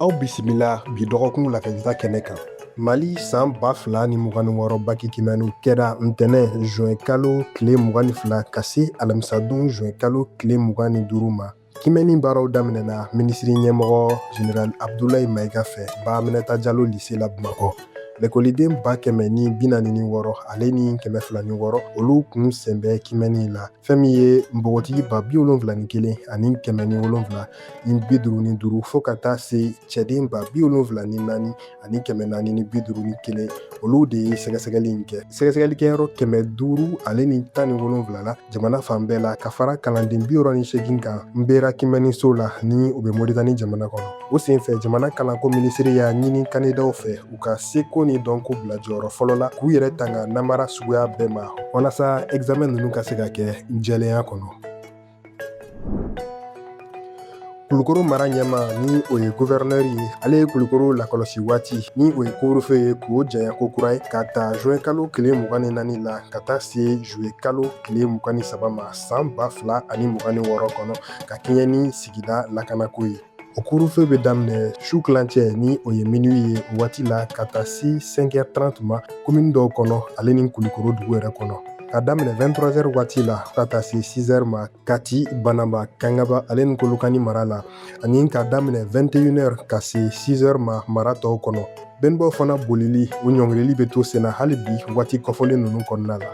aw bisimila bi dɔgɔkun lakalita kɛnɛ kan mali san ba fila ni mugan ni wɔɔrɔ baki kimɛniw kɛra ntɛnɛn zuwɛn kalo tile mugan ni fila ka se alamisadon zuwɛn kalo tile mugan ni duuru ma kimɛni baaraw daminɛna minisiri ɲɛmɔgɔ general abdulayi mayiga fɛ ba aminata jalo lise la bamakɔ lekɔliden ba kɛmɛ ni bi naani ni wɔɔrɔ ale ni kɛmɛ fila ni wɔɔrɔ olu kun sen bɛ kimɛni la fɛn min ye npogotigi ba bi wolonfila ni kelen ani kɛmɛ ni wolonfila ni bi duuru ni duuru fo ka taa se cɛden ba bi wolonfila ni naani ani kɛmɛ naani ni bi duuru ni kelen olu de ye sɛgɛsɛgɛli in kɛ sɛgɛsɛgɛli kɛyɔrɔ kɛmɛ duuru ale ni tan ni wolonfila la jamana fan bɛɛ la ka fara kalanden bi wɔɔrɔ ni seegin kan nbera kimɛni so la ni o bɛ moritani jamana kɔnɔ o senfɛ jamana kalanko minisiri y'a ɲini kandidaw fɛ u ka seko ni dɔnko bila jɔyɔrɔ fɔlɔ la k'u yɛrɛ tanga namara suguya bɛɛ ma walasa examen ninnu ka se ka kɛ jɛlenya kɔnɔ kulukoro mara ɲɛmaa ni o ye guvɛrɛnɛri ye ale ye kulukoro lakɔlɔsi waati ni o ye couvre-feu ye k'o janya ko kura ye ka ta juin kalo tile mugan ni naani la ka taa se juillet kalo tile mugan ni saba ma san ba fila ani mugan ni wɔɔrɔ kɔnɔ ka kɛɲɛ ni sigida lakanako ye O couvre-feu bɛ daminɛ su tilancɛ ni o ye minuit ye waati la ka taa se cinq heures trente ma komin dɔw kɔnɔ ale ni kulukoro dugu yɛrɛ kɔnɔ ka daminɛ vingt-trois heures waati la ka taa se six heures ma kati bananba kangaba ale ni kolokani mara la ani ka daminɛ vingt et une heures ka se six heures ma mara tɔw kɔnɔ bɛnbaw fana bolili o ɲɔngirili bɛ to senna hali bi waati kɔfɔlen ninnu kɔnɔna la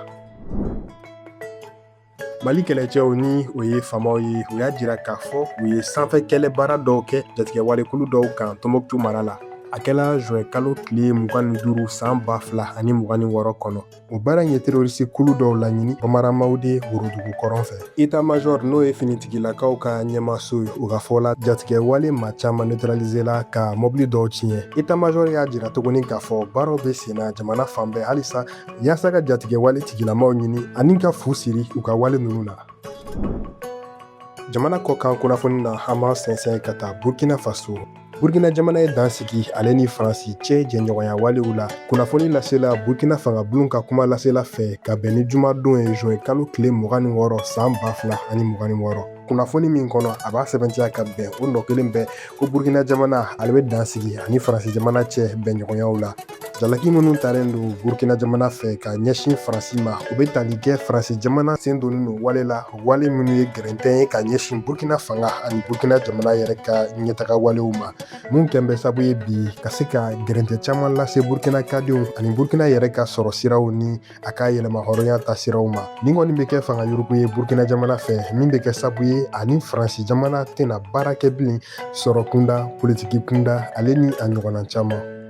mali kɛlɛcɛw ni o ye famaw ye u y'a jira k'a fɔ u ye sanfɛ kɛlɛ baara dɔw kɛ jatigɛwale kulu dɔw kan tɔnbɔkutu mara la a kɛla zuwɛn kalo tile mugan ni duuru san ba fila ani mugan ni wɔɔrɔ kɔnɔ o baara in ye terorisi kulu dɔw laɲini bambara mawude worodugu kɔrɔn fɛ eta majɔr n'o ye finitigilakaw ka ɲɛmaaso ye u ka fɔ la jatigɛwale maa caman neutralisela ka mɔbili dɔw tiɲɛ eta majɔr y'a jira tuguni k'a fɔ baaraw bɛ senna jamana fan bɛɛ halisa yaasa ka jatigɛwale tigilamaw ɲini ani ka fu siri u ka wale ninnu na jamana kɔkan kunnafoni na an b'an sɛnsɛn ka taa burkina faso burkina jamana ye dan sigi ale ni faransi cɛ jɛɲɔgɔnya walew la kunnafoni lasela burkina fangabulon ka kumalasela fɛ ka bɛn ni jumadon ye zuwɛn kalo tile mugan ni wɔɔrɔ san ba fila ani mugan ni wɔɔrɔ kunnafoni min kɔnɔ a b'a sɛbɛntiya ka bɛn o nɔ kelen bɛɛ ko burukina jamana ale bɛ dan sigi ani faransi jamana cɛ bɛnɲɔgɔnyaw la jalaki minnu talen don burukina jamana fɛ ka ɲɛsin faransi ma u bɛ tali kɛ faransi jamana sen donnen don wale la wale minnu ye gɛrɛntɛ ye ka ɲɛsin burukina fanga ani burukina jamana yɛrɛ ka ɲɛtaga walew ma min kɛlen bɛ sabu ye bi ka se ka gɛrɛntɛ caman lase burukinaka denw ani burukina yɛrɛ ka sɔrɔ siraw ni a ka yɛrɛmahɔrɔnya tasiraw ma nin kɔni bɛ kɛ fanga yuruku ye burkina jamana fɛ min bɛ kɛ sabu ye ani faransi jamana tɛna baara kɛ bilen sɔrɔ kunda politiki kunda ale ni a ɲɔgɔnna caman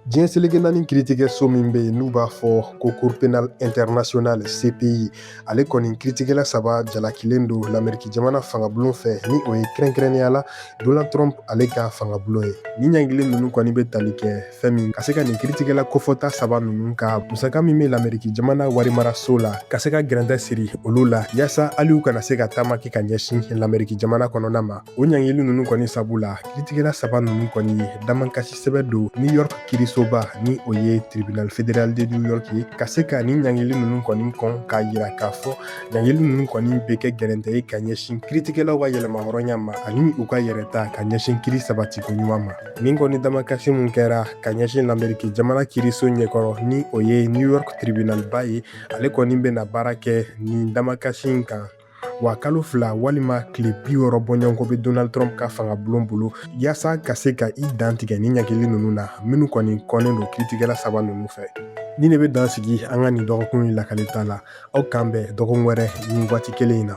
diɲɛ seleke naani kiritigɛso min bɛ yen n'u b'a fɔ ko cour pénale internationale cpi ale kɔni kiritigɛla saba jalakilen don lameriki jamana fangabulon fɛ ni o ye kɛrɛnkɛrɛnnenya la donald trump ale ka fangabulon ye nin ɲangili ninnu kɔni bɛ tali kɛ fɛn min ka se ka nin kiritigɛla kofɔta saba ninnu ka musaka min bɛ lameriki jamana warimaraso la ka se ka gɛrɛntɛ siri olu la yaasa hali u kana se ka taama kɛ ka ɲɛsin lameriki jamana kɔnɔna ma o ɲangili ninnu kɔni sabu la kiritigɛla saba ninnu kɔni damankasi sɛbɛn don new york kirisoba ni o ye tribunal federal de new york ye ka se ka nin ɲangili ninnu kɔni kɔn k'a yira k'a fɔ ɲangili ninnu kɔni bɛ kɛ gɛrɛntɛ ye ka ɲɛsin kiritigɛlaw ka yɛrɛmahɔrɔnya ma ani u ka yɛrɛta ka ɲɛsin kiri sabatiko ɲuman ma nin kɔni damakasi min kɛra ka ɲɛsin lameriki jamana kiriso ɲɛkɔrɔ ni o ye new york tribunalba ye ale kɔni bɛna baara kɛ nin damakasi kan wa kalo fila walima tile bi wɔɔrɔ bɔɲɔgɔnko bɛ donald trump ka fangabulon bolo yaasa ka se ka i dantigɛ nin ɲangili ninnu na minnu kɔni kɔnnen don kiritigɛla saba ninnu fɛ ni ne bɛ dan sigi an ka nin dɔgɔkun in lakalita la aw k'an bɛn dɔgɔkun wɛrɛ nin waati kelen in na